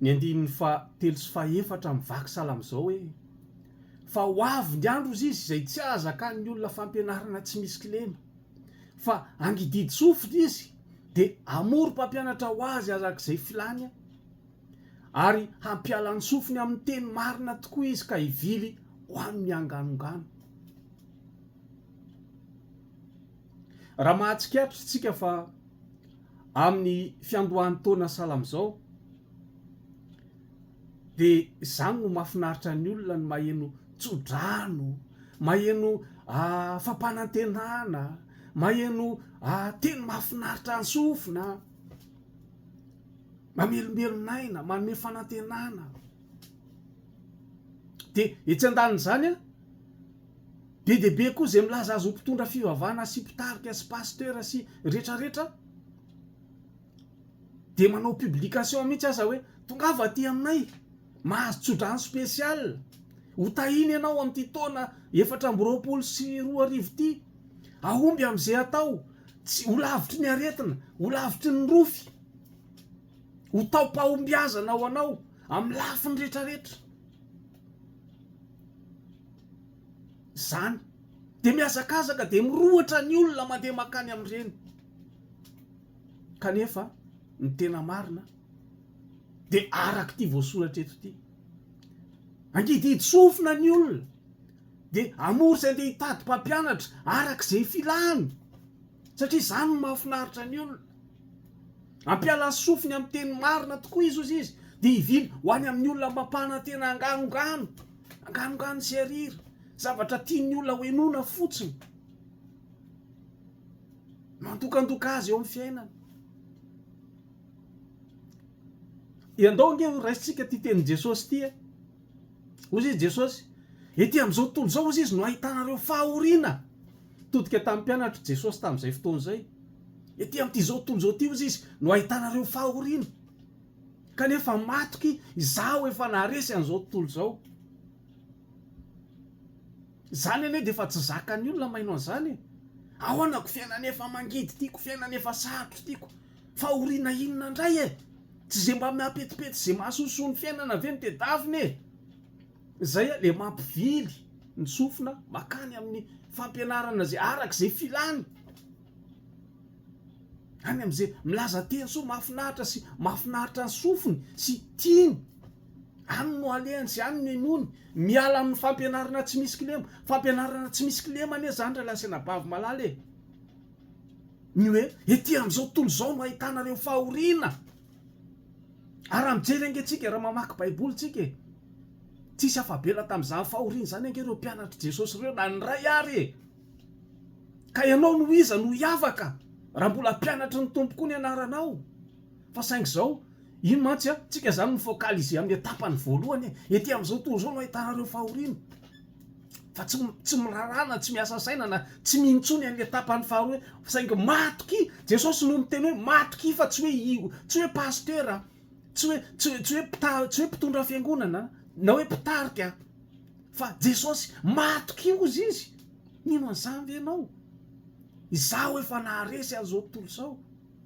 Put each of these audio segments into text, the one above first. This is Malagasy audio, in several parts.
Ny andininy faha telo sy faha efatra amin'ny vaky sahala amin'izao hoe, Fa ho avy ny andro, hozy Izy, izay tsy hahazakan'ny olona fampianarana tsy misy kilema, fa hangididy sofina Izy, dia hamory mpampianatra ho Azy arak'izay filany, ary hampiala ny sofiny amin'ny teny marina tokoa Izy ka hivily ho amin'ny anganongano. Raha mahatsikaritra isika fa. amin'ny fiandohan'ny taona sahala amin'izao dia izany no mahafinaritra ny olona ny maheno tsodrano, maheno fampanantenana, maheno teny mahafinaritra an-tsofina, mamelombelon'aina, manome fanantenana. Dia etsy andanin'izany an! Be dia be koa izay milaza azy ho mpitondra fivavahana sy mpitarika sy pasteur sy rehetra rehetra dia manao publication mihitsy aza hoe tongava aty aminay mahazo tsodrano special ho tahina ianao amin'ity taona efatra amby roapolo sy roa arivo ity ahomby amin'izay atao tsy ho lavitry ny aretina ho lavitry ny rofy ho taom-pahombiazana ho anao amin'ny lafiny rehetra rehetra Izany dia mihazakazaka dia mirohotra ny olona mandeha mankany amin'ireny kanefa ny tena marina dia araka ity voasoratra eto ity. Angidihidy sofina ny olona dia amory izay andeha hitady mpampianatra araka izay filany satria izany no mahafinaritra ny olona. Ampiala sofiny amin'ny teny marina tokoa izy hozy izy dia hivily ho any amin'ny olona mampanantena anganongano, anganongano sy arira, zavatra tian'ny olona hohenoina fotsiny. Mandokandoka azy eo amin'ny fiainany. Iandao ange ho raisintsika ity tenin'i Jesosy ity. Eh. Hozy izy Jesosy, ety amin'izao tontolo izao hozy izy no ahitanareo fahoriana. Nitodika tamin'ny mpianatr'i Jesosy tamin'izay fotoana izay. Etỳ amin'izao tontolo izao ity, hoy izy, no ahitana ireo fahoriana. Kanefa matoky izaho efa naharesy an'izao tontolo izao. Izany anie dia efa tsy zakan'ny olona maino an'izany e! Ahoana ko fiainana efa mangidy ity, ko fiainana efa sarotra ity ko! Fahoriana inona indray e! Tsy izay mba mihapetipety izay mahasosoa ny fiainana ve no tedavina e! Zay le mampivily ny sofina makany amin'ny fampianarana zay araka zay filany. Any amzay milaza teny soa mafinaritra sy mafinaritra ny sofiny sy tiany. Any no alehany sy any no enony. Miala amin'ny fampianarana tsy misy kilema. Fampianarana tsy misy kilema anie zany ry lahy sy anabavy malala e. Ny hoe ety amzao tontolo zao no ahitana reo fahoriana. Ary raha mijery ange tsika, raha mamaky baiboly tsika e, tsisy afa-bela tamin'izany fahoriana izany ange ireo mpianatr'i Jesosy ireo na ny iray ary e! Ka ianao noho iza no hiavaka raha mbola mpianatry ny Tompo koa ny anaranao? Fa saingy izao, iny mantsy an, tsika izany mi-focaliser amin'ny etapany voalohany e, ety amin'izao tontolo izao no ahitana ireo fahoriana. fa tsy tsy miraharaha na tsy miasa saina na tsy mino intsony an'le tapany faharoa hoe saingy matokia Jesosy no miteny hoe matokia fa tsy hoe io tsy hoe pasitera tsy hoe tsy hoe tsy hoe mpitary tsy hoe mpitondra fiangonana na hoe mpitarika fa Jesosy matokia ozy izy mino an'izany ve ianao izaho efa naharesy an'izao tontolo izao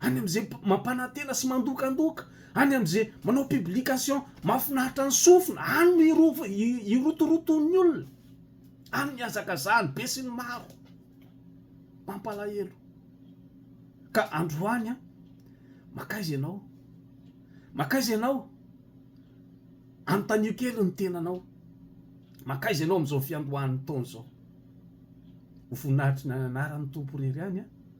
any amin'izay mampanantena sy mandokandoka, any amin'izay manao publication mahafinaritra ny sofina, any no irov irotoroton'ny olona, any no ihazakazahany besinimaro. Mampalahelo. Ka androany an, makaiza ianao? Makaiza ianao? Anontanio kely ny tenanao, makaiza ianao amin'izao fiandohan'ny taona izao? Ho voninahitry ny anaran'ny Tompo irery ihany an,